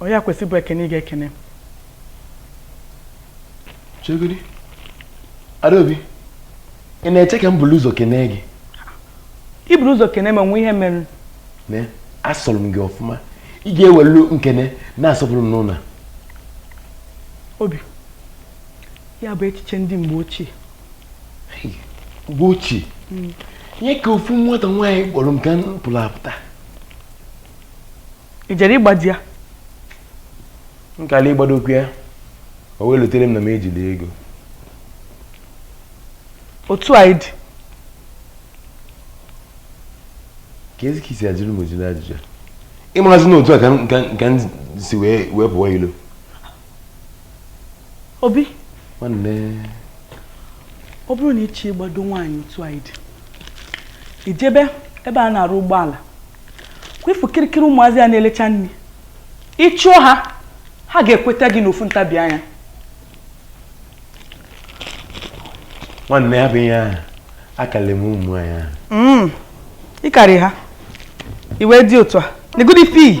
ọ ya kwesị bụ ekene ị ga-ekene m. chegodi adaobi ị na-eche ka m buru ụzọ kenee gị i buru ụzọ kene m o nwee ihe mere ne asọrọ m gị ọfụma ị ga-ewelu nkene na-asọpụrụ m n'ụlọ a. obi ya bụ echiche ndị mgbe ochie mgbe ochie hmm. nye ka ofu nwata nwaanyị kpọrọ m ka m pụrụ apụta ị jere ịgbado ya m kala ịgbadokwu ya o wee lotere m na m ejirọ ego otu a ị dị kezi ka i si ajụrụ m ojiri ajụjụ ịmarazi na otu a ka m si wee pụọ ilo Obi. Nwanne. Ọ bụrụ na ị chọọ ịgbado nwaanyị otu a ị dị, i jebe ebe a na-arụ ụgbọala, ka ị fụ kirikiri ụmụazị a na-elecha nri. Ị chụọ ha, ha ga-ekweta gị n'ofu ntabi anya. Nwanne ya bụ ihe ahụ, akarịrị m ụmụ nwaanyị ahụ. Mm. Ị karị ha, i wee dị otu a, negodu ife i yi.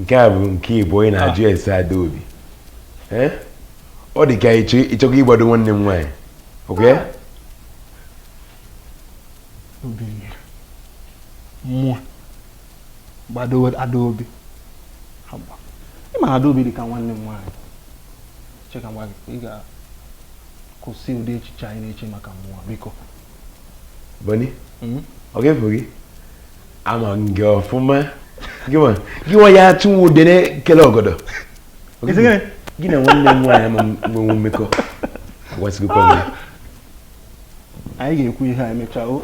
nke a bụ nke gị boni ị na-ajụ ah. ese adaobi eh? ọ dị ka ị chọkwa ịgbado nwanne m nwaanyị ọkwa ya. mụ gbado adaobi ị ma na adaobi dị ka nwanne m nwaanyị cheka nwa gị ị ga-akwụsị ụdị echiche a ị na-eche maka mụ o biko boni ọ ga-efu gị ama m gị ọfụma gị nwa ya-achụ nwa udele kele ọgọdọ gị na nwanne m nwaanyị ama nwenwu mmekọ agwasịgokwa m anyị ga-ekwu ihe a emechaa o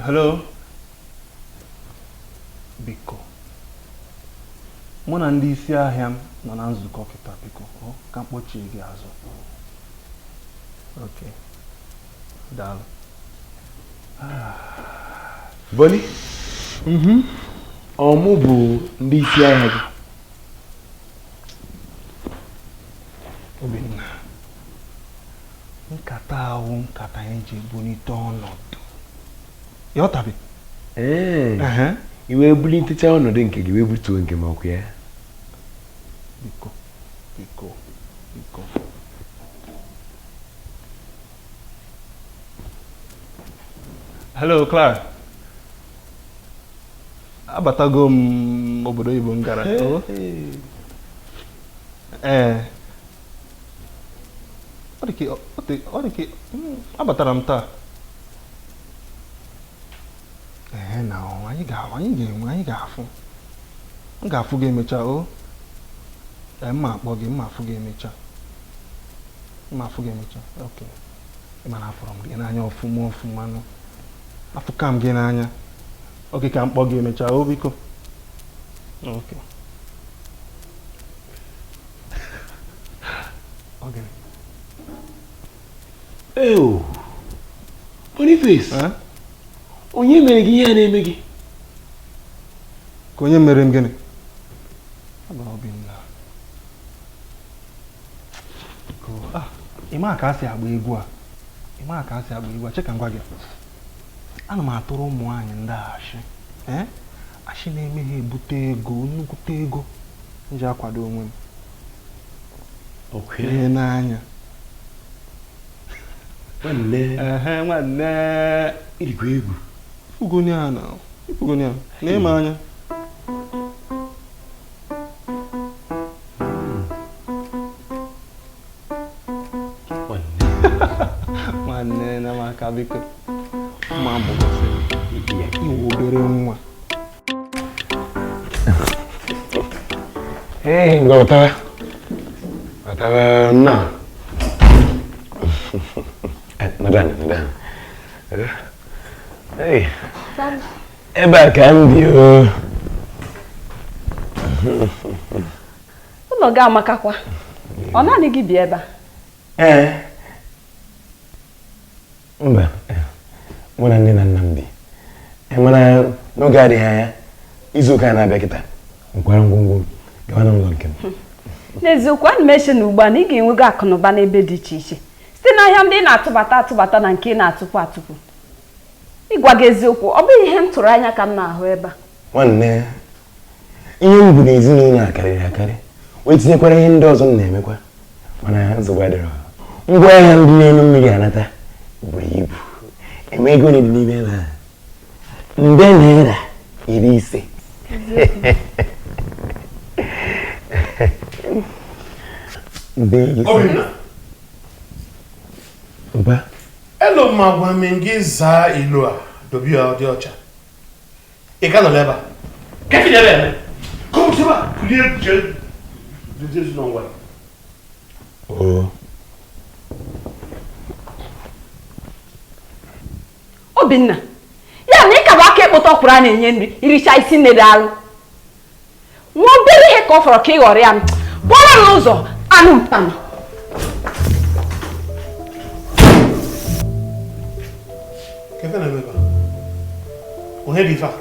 hello biko mụ na ndị isi ahịa m nọ na nzukọ kịta biko ka m kpọchie gị azụ Okay. Daalụ. Boni, Mhm. ọ mụ bụ ndị isi ahịa gị. Obinna, nkata ahụ nkata anyị ji ebulite ọnọdụ. Ya ọ tabi? Ee. Ehe. I wee bulitecha ọnọdụ nke gị wee butuo nke m ọkwa ya. biko biko biko hello Clara abatago m obodo oyibo m gara oh. ee eh. ọ dị ka abatara m taa ee na anyị ga-ahụ anyị ga-enwe anyị ga-afụ m ga-afụ gị emecha o ee m ma-akpọ gị m ma-afụ gị emecha m ma-afụ gị emecha ok ị ma na afụrụ m gị n'anya ọfụma ọfụma nụ afụka m gị n'anya ok ka m kpọ gị emecha o biko ok ọ gịnị Ewu, Boniface, Eh? onye mere gị ihe a na-eme gị? ka onye mere m gịnị Abụ Obinna. Ko- ah, ị ma ka a si agba egwu a ị ma ka a si agba egwu a cheka ngwa gị ana m atụrụ ụmụ nwaanyị ndị a ashị ee ashị na-eme ha ebute ego nnukwute ego m ji akwado onwe m ihe n'anya nwanne igwe egwu ifugoni a na ifugoni a na ịma anya nwanne na maka biko ma bụ iwu obere nwa Ee, ngwa wetara. Wetara nna. Eh, Nọdụ anị, nọdụ anị. Eh, hey, Ebe a ka m bi o. ụlọ gị amakakwa ọ naanị gị bi ebe a Ee, mba mụ na nne na nna m bi e, mana n'oge adịghị anya izu ụka na-abịa kịta m kwara ngwongwo m gawa n'ụlọ nke m n'eziokwu ana m eche na ugbu a na ị ga-enwego akụnụba n'ebe dị iche iche site n'ahịa ndị ị na-atụbata atụbata na nke ị na-atụpụ atụpụ ịgwa gị eziokwu ọ bụghị ihe m tụrụ anya ka m na-ahụ ebe a nwanne ihe m bu n'ezinụlọ a karịrị akarị wee tinyekwara ihe ndị ọzọ m na-emekwa mana nsogbu adịrọ ngwa ahịa m dị n'elu mmiri anata buru ibu ị ma ego one dị n'ime ebe a nde naira iri ise nde iri ise mba elu ma gwa m gị zaa ilo a dobe ya dị ọcha ị ka nọ n'ebe a ka efi n'ebe eme ka ọ bụsịba kulie jee dozie ezi n'ọnwa ya obinna ya na ị ka bụ aka ekpota ọkwụrụ a na-enye nri i richa ị sị nne daalụ nwa obere ihe ka ọ fọrọ ka ị ghọrịa m pụọrọ m n'ụzọ anụ mpam onye dị ife a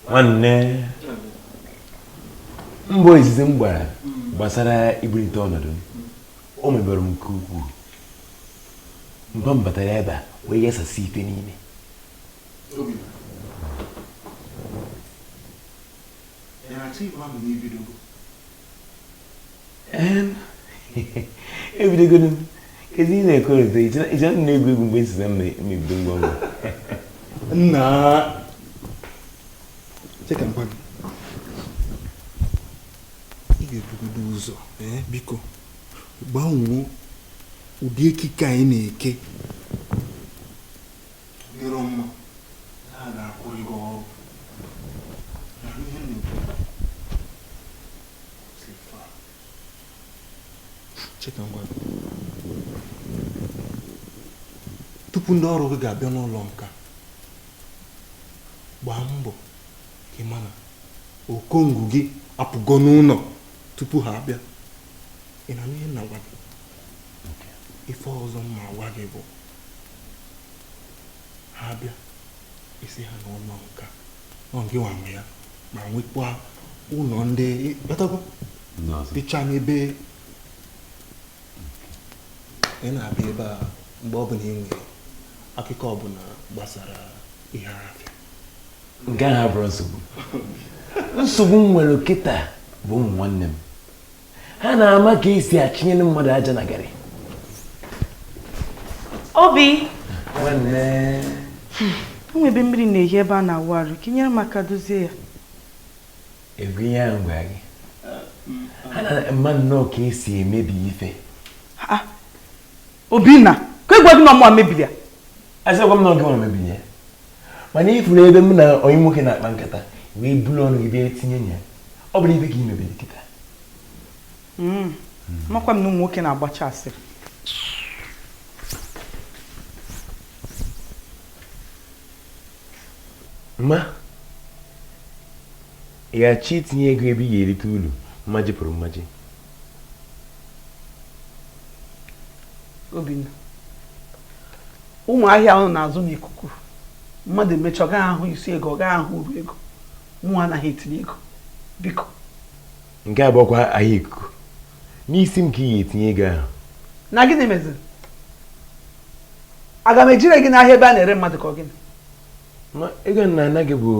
nwanne mbọ izizi m gbara gbasara ibulite ọnọdụ m o mebere m nke ukwuu mgbe m batara ebe a wee yasasị ife niile ebidogonu kedu ihe na-ekorịta iche na egwu egwu mgbe nsiza mebido ngwa ngwa nna cheka mkpa gị ị ga-ebugodo ụzọ eh, biko gbanwoo ụdị ekike a ị na-eke adịrọ mma tupu ndị ọrụ gị ga-abịa n'ụlọ nka gbaa mbọ ka ị ma na okongwu gị apụgo n'ụlọ tupu ha abịa ị na-anụ ihe m na-agwa gị ife ọzọ m ma-agwa gị bụ ha abịa ị sị ha na ụlọ nka ọ ngị nwa nwe ya ma nwekwa ụlọ ndị batago dịcha n'ebe ị na-abịa ebe a mgbe ọ bụla ị nwere akụkọ ọbụla gbasara ihe afịa nke ahụ abụrọ nsogbu nsogbu m nwere kịta bụ ụmụ nwanne m ha na-ama ka esi achịnyere mmadụ aja na garị obi o nwe ebe mmiri na-ehi ebe a na-awụ arụ ka i nyere m aka dozie ya egwu ihe ahụ gwara gị ha na-ama nnọọ ka esi emebi ife obinna ka egwa gị na ọ mụ mebiri ya asịkwa m na ọ gị mebiri ya mana ị fụrụ ebe m na onye nwoke na-akpa nkata wee buru ọnụ gị bịa tinye ya ọ bụrụ ibe ka ị mebiri kịta hmm. makwa m na ụmụ nwoke na-agbacha asịrị ma ị ga-achọ itinye ego ebe ị ga-erite uru mmaji kwuru mmaji Obinna ụmụ ahịa unu na-azụ n'ikuku mmadụ emecha ọ gaghị ahụ isi ego ọ gaghị ahụ uru ego mụ anaghị etinye ego biko nke a bụkwa ahịa ikuku n'isi m ka ị ga-etinye ego ahụ na gịnị meziri aga m eje ree gị n'ahịa ebe a na-ere mmadụ ka ọ gịnị Ma ego m na-ana gị bụ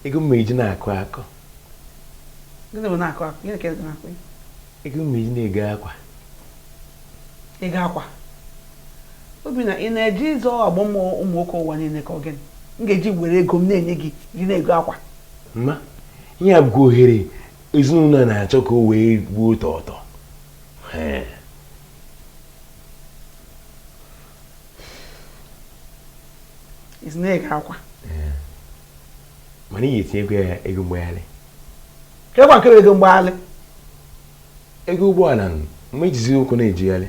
ego m eji na-akụ akụ gịnị bụ na-akụ akụ gịnị ka ị na-akụ ego m na-eji na-ego akwa ego akwa Obinna ị na-eje ịzọ agbọ m ụmụ nwoke ụwa niile ka ọ gịnị m ga-eji were ego m na-enye gị ji na-ego akwa ma ihe a bụkwa ohere ezinụlọ a na-achọ ka o wee gbuo ụtọ ụtọ Ee. isi na-ego akwa mana ị ga-etinye ego ya ego mgbagharị kekwa nke bụ ego mgbagharị ego ụgbọala nụ mgbe ị jizi ụkwụ na-ejegharị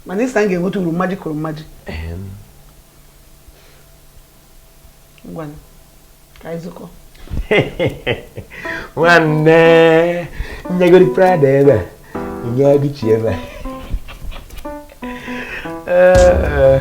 mana ị sị m ga-enweta uru mmaji kwuru mmaji Ehem. ngwanụ ka anyị zụkọ nwanne nyegodi Prada ebe a nye Gucci ebe a Ee.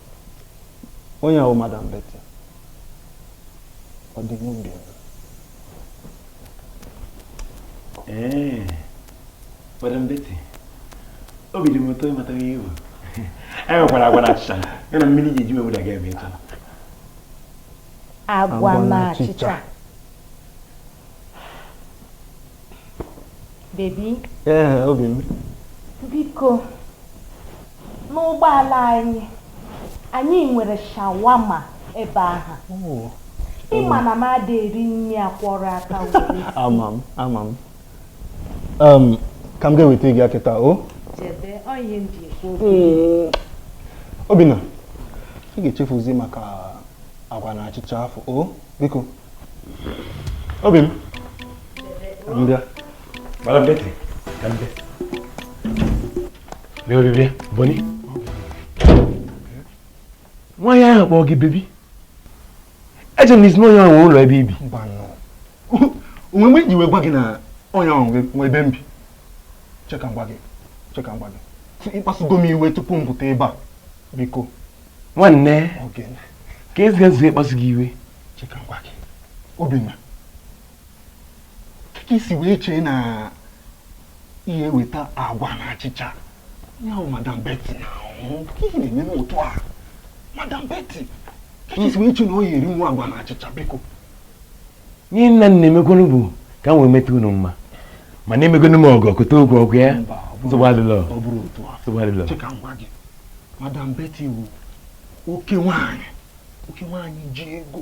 onye ahụ madam Betty ọ dị n'obi ee madam Betty obi dị m ụtọ ịmata ihe iwu e nwekwara agwa na achịcha ya na mmiri ji eji wewụda ga ebe ịtọ agwa na achịcha baby ee obi m biko N'ụgbọala anyị, anyị nwere shawarma ebe ahụ. Oh. Ị ma na m ada eri nri akwọrọ aka were. Ama m, ama m. Um, ka m ga weta gị ya kịta o? Oh. Jebe, ọ ihe m ji ekwu okwu. Hmm. Obinna, ị ga-echefuzi maka agwa na achịcha afụ o oh, biko. Obi m. Jebe. M bịa. Madam Betty, ka m bịa. bịa bịa bịa bọni nwaanyị ahụ kpọọ gị baby eche na ị sị na onye ahụ nwe ụlọ ebe i bi o nwe mgbe m ji wee gwa gị na onye ahụ nwe ebe m bi cheka ngwa gị cheka ngwa gị ịkpasugo m iwe tupu m pụta ebe a biko nwanne keezi ka e si kpasu gị iwe cheka ngwa gị obinna ka i si wee chee na ị ya-eweta agwa na achịcha ya ahụ madam Betty na-ahụ ihe na-eme otu a madam Betty kee ka i si wee chee na ọ ya-erinwu agwa na achịcha biko ihe m na-emekwanụ bụ ka m wee meta unu mma mana emegonu m ọgọ kote okwu ọkụ ya nsogbu adịlọ nsogbu adịlọ madam Betty bụ oke nwaanyị oke nwaanyị ji ego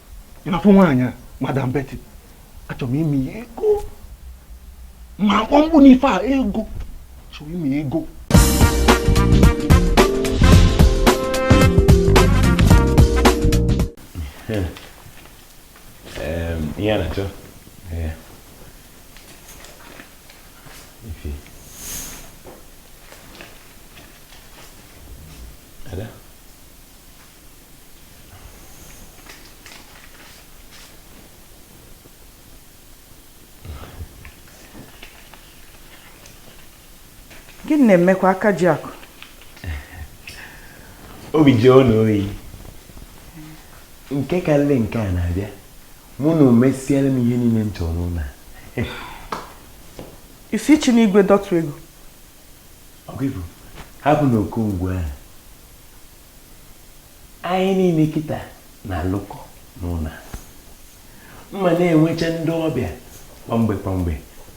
ị na-afụ nwaanyị a madam Betty achọrọ m ime ya ego ma a kpọọ mkpu n'ife a ego chọrọ ime ya ego ihe a na-achọ gịnị na-emekwa aka ji akụ obi ji ọnụ oyi nke karịrị nke a na-abịa mụ na o mesiela m ihe niile m chọrọ n'ụlọ isi chi n'igwe dọtụ ego hapụ na okongwu ahụ anyị niile kịta na-alụkọ n'ụlọ a. m ma na-enwecha ndị ọbịa kwa mgbe kwa mgbe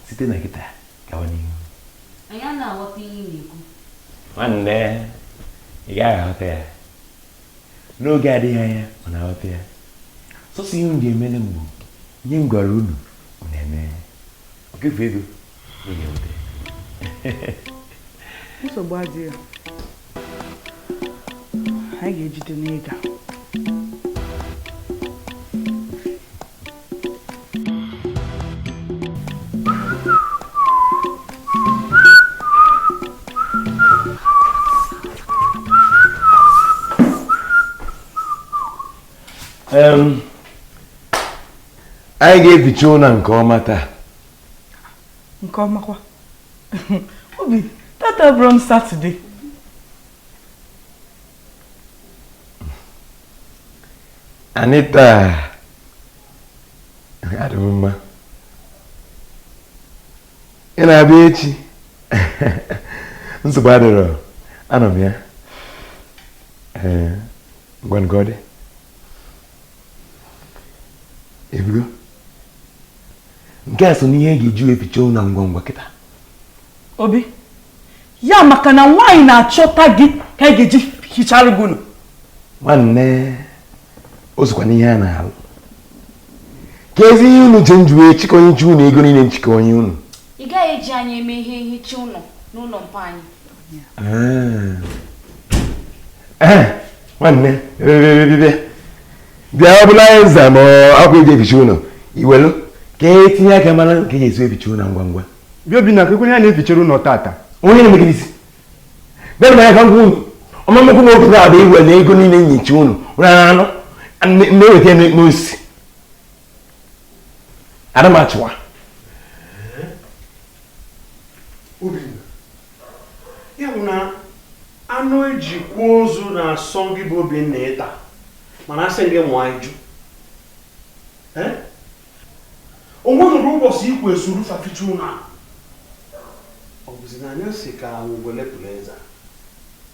site na kịta gawa n'ihu anyị anaghị aghọta ihe ị na-ekwu nwanne ị gaghị aghọta ya n'oge adịghị anya unu aghọta ya sọsọ ihe unu ga-emere m bụ ihe m gwara unu unu emee ya. ọ ga-efu ego nsogbu adịghị anyị ga-ejide n'ịga anyị ga-eficha ụlọ nke ọma taa nke ọmakwa obi tata bụrụ m satọde anita adị m mma ị na-abịa echi nsogbu adịrọ anọ m ya ee ngwanụ ka ọ dị ebigo nke a so n'ihe e ga-eji wee ficha ụlọ ngwa ngwa kịta obi ya maka na nwaanyị na-achọta gị ka e ga-eji hichara gị ụlọ nwanne o sokwa n'ihe a na-alụ kezi ihe unu che m ji wee chịkọ nyecha unu ego niile m chịkọ nye unu ị gaghị eji anyị eme ihe nhicha ụlọ n'ụlọ mpa anyị nwanne bịa ọ bụla anyị nza ma akwa eji eficha ụlọ i welu ka etinye aka mara ka eji esi eficha ụlọ ngwa ngwa bịa Obinna kekwa onye anyị na-efichara ụlọ tata onye na-emegide isi bịa na ya ka ngwa ụlọ ọmamekwu na otu abụ iwe na ego niile nyicha ụlọ ụlọ anụ na-eweta n'osi adamachụwa ya bụ na anụ e ji kwa ozu na-asọ gị bụ Obinna ịta mana a sị gị nwụọ ị jụ ee o nwere ụbọchị i kwe soro fa ficha ụlọ ọ bụzi na anya si ka ngwele pụrụ eze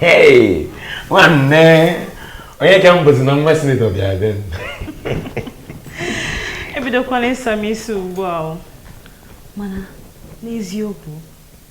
Hey, nwanne onye ka m bụzi na nwa sinetọ bịa be m ebidokwala ịsa m isi ugbu a o. mana n'eziokwu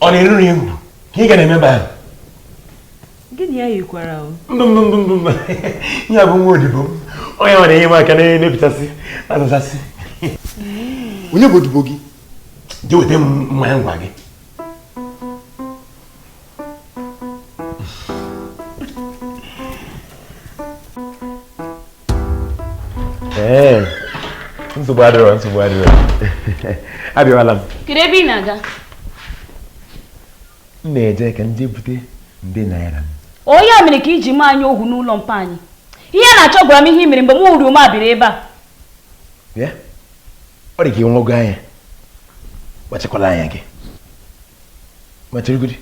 ọ na-eruru ihu ka ị ga na-eme ebe ahụ gịnị ya yikwara o ndụ ndụ ndụ ndụ ndụ ihe a bụ nwa odibo m onye na-enyere m aka na-emepụtasị azụzasị onye bụ odibo gị jee weta m mmanya ngwa gị ee nsogbu adịrọ nsogbu adịrọ abịawala m kedu ebe ị na-aga m na-eje ka m je bute ndị naira m onye a mere ka i ji mee anyị ohu n'ụlọ mpa anyị ihe a na-achọ gwara m ihe i mere mgbe m hụrụ ume abịrị ebe a bịa ọ dị ka ị wago anya kpachakwala anya gị ma cheregodi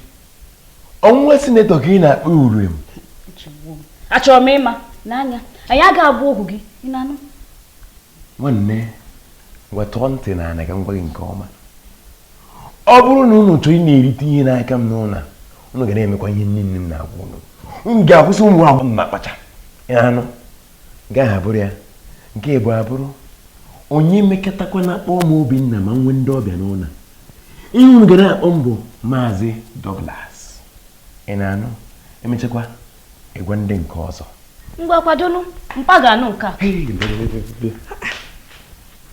ọnwa sinetọ ka ị na-akpọ uru m achọrọ m ịma n'anya anyị aga abụ ohu gị ị na-anụ nwanne wetuo ntị n'ana ka m gwa gị nke ọma ọ bụrụ na unu chọrọ ị na-erite ihe n'aka m n'ụlọ unu ga na-emekwa ihe niine m na-agwa unu unu ga-akwụsị ụmụ agbọghọ na-akpacha ị na-anụ nke ahụ abụrụ ya nke ịbụọ abụrụ onye mekatakwa na-akpọ m Obinna ma m nwee ndị ọbịa n'ụlọ ihe unu ga na-akpọ m bụ maazị Douglas ị na-anụ e mechakwa ị gwa ndị nke ọzọ ngwa kwadonu mpa ga-anụ nke a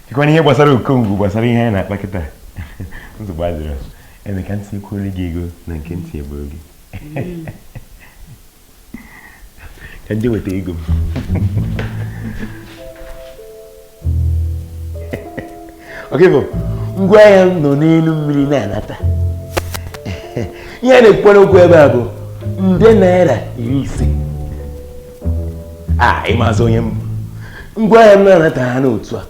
dịkwana ihe gbasara okongwu gbasara ihe anyị na-akpa kịta nsogbu adịrọ eme ka m tikwuolu gị ego na nke m tibu oge ka ndị weta ego m oke bụ ngwa ahịa m nọ n'elu mmiri na-anata ihe a na-ekwukwanụ okwu ebe a bụ nde naira iri ise a ị mazị onye m bụ ngwa ahịa m na-anata ha n'otu a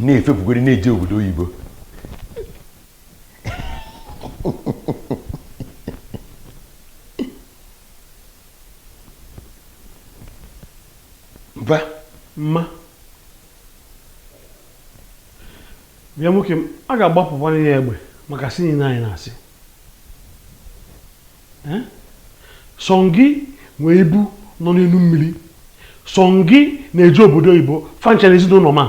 na-efepụgoro na-eje obodo oyibo mba mba bịa nwoke m a ga-agbapụkwara ya egbe maka asị niile a ị na-asị Eh? sọ gị nwee ibu nọ n'elu mmiri sọ gị na-eje obodo oyibo fa ncha na ezinụlọ ma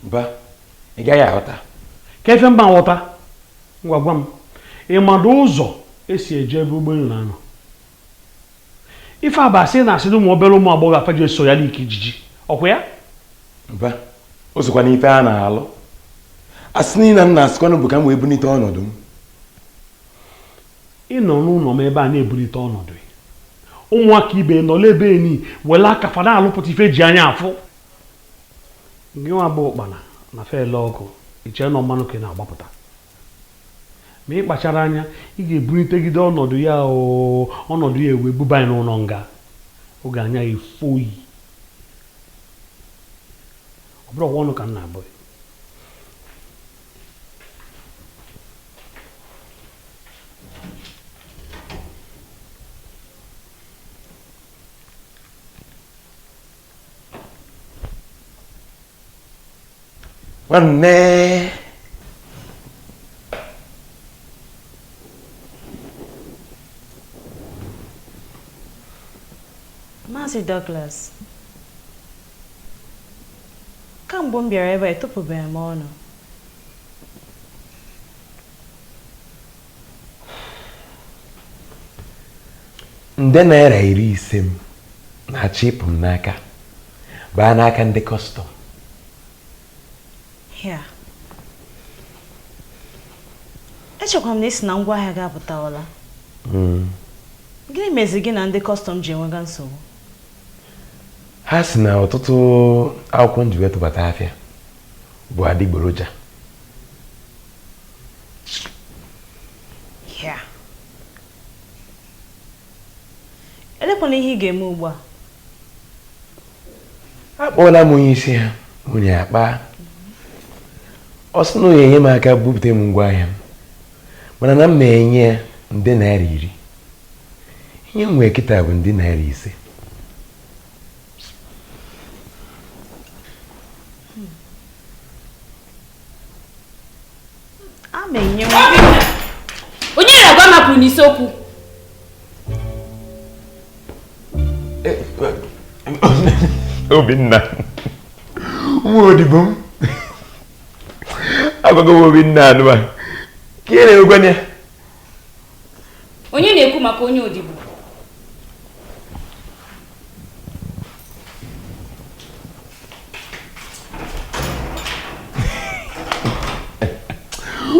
mba ị gaghị aghọta ka ife m ga-aghọta ngwa gwa m ị madụ ụzọ e si eje ebe ụgbọelu na-anọ ife a bụ asị ị na-asị na ụmụ obere ụmụ agbọghọ a fa ji eso ya like ijiji ọ kwa ya mba o sokwa n'ife a na-alụ asị niile m na-asịkwanụ bụ ka m wee bunite ọnọdụ m ị nọ n'ụlọ m ebe a na-ebulite ọnọdụ ya ụmụaka ibe nọla ebe enyi were aka fa na-alụpụta ife e ji anya afụ Gị nwa bụ ụkpana na fele ọkụ i chee na ọ mmanụ ka ị na-agbapụta ma ị kpachara anya ị ga-ebunitegide ọnọdụ ya ọnọdụ ya ewee buba ị n'ụlọ nga oge anya ya efo yi ọ bụrụ ọnụ ka m na-abụ nwanne Maazị Douglas kamgbe m bịara ebe a etopụbeghị m ọnụ nde naira iri ise m na-achọ ịpụ m n'aka baa n'aka ndị kọstọm Hee. Echekwa m na ị sị na ngwa ahịa gị apụtawala. Gịnị mezi gị na ndị kọstọm ji enwega nsogbu? ha si na ọtụtụ akwụkwọ m ji wee tụbata afịa bụ adịgboroja ya elekwanụ ihe ị ga-eme ugbu a akpọọla m onye isi ha nwunye akpa ọ sị na ọ ya-enye m aka bupụta m ngwa ahịa m mana na m na-enye ya nde naira iri ihe m nwee kịta bụ nde naira ise onye na-agwa mapụ n'isi okwu obinna nwa odibo m agwago m obinna anụmanụ ka ị na-egwanye onye na-ekwu maka onye odibo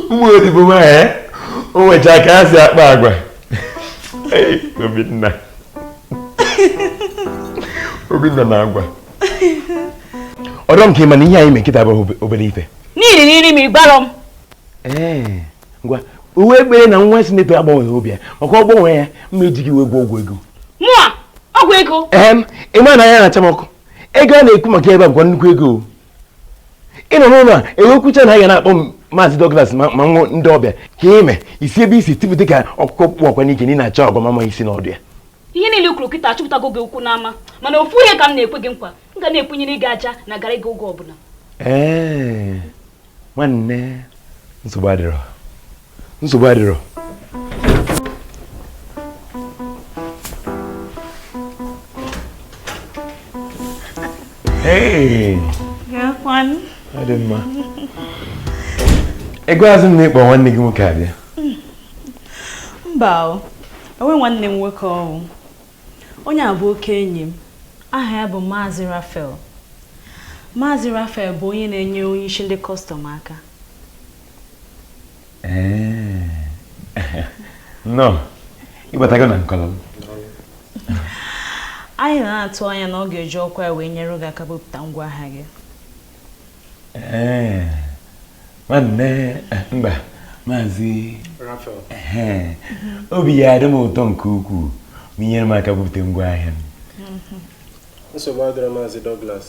ụmụ odibo m a eh? o nwechaa ka ha si akpa agwa obinna obinna na agwa ọ dị m ka ị ma na ihe anyị mee kịta bụ obere ife niile na iri m ịgbarọ m eh. ngwa uwe ekpere na nwa si n'ekpere agbanweghị obi ya maka ọ gbanwe ya m ga-eji gị wee gwọọ ọgwụ ego mụa ọgwụ ego ee ị ma na anya na-acha m ọkụ ego a na-ekwu maka ebe a bụkwa nnukwu ego ị nọ n'ụlọ a e wee kwuchaa na a ga na-akpọ m maazị Douglas ma ma nwụ ndị ọbịa ka i mee si ebe i si tipụta ka ọkụkọ kpụ ọkwa n'ike na ị na-achọ agwa m ama m isi na ọdụ ya ihe niile i kwuru kịta achụpụtago gị okwu n'ama mana ofu ihe ka m na-ekwe gị nkwa m ga na-ekwenyere gị aja na gara gị oge ọbụla ee nwanne nsogbu adịrọ nsogbu adịrọ Hey! Kekwanụ. Ọ dị mma. Ị gwazị m na ị kpọ nwanne gị nwoke abịa. Mba o, enwe nwanne m nwoke ọhụụ. Onye a bụ oke enyi m. Aha ya bụ Maazị Rafael. Maazị Rafael bụ onye na-enyere onye isi ndị kọstọm aka. Nnọọ, ị batago na nkọlọ m. Anyị na-atụ anya na ọ ga-eji ọkwa ya wee nyere gị aka bupụta ngwa ahịa gị. ee nwanne mba maazị obi ya-adị m ụtọ nke ukwuu ma i nyere m aka bupụta ngwa ahịa m nsogbu adịrọ maazị Douglas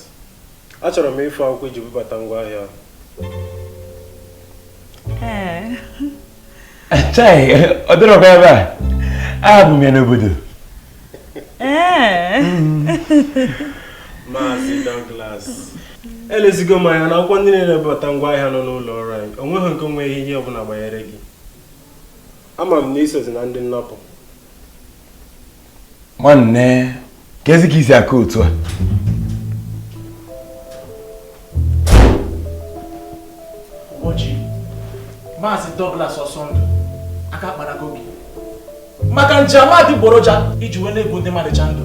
achọrọ m ịfụ akwụkwọ i ji bubata ngwa ahịa chai ọ dịrọkwa ebe a abụ m ya n'obodo ee Maazị Douglas elezigo m anya na akwụkwọ ndị na-ebubata ngwa ahịa nọ n'ụlọ ọrụ anyị o nweghị nke nwe ihe ihe ọbụla gbanyere gị ama m na i sozi na ndị nnapụ nwanne kezi ka i si aka otu a Oji, Maazị Douglas Ọsọndụ, aka akparago gị. maka njem adịgboroja i ji wee na-egbu ndị mmadụ cha ndụ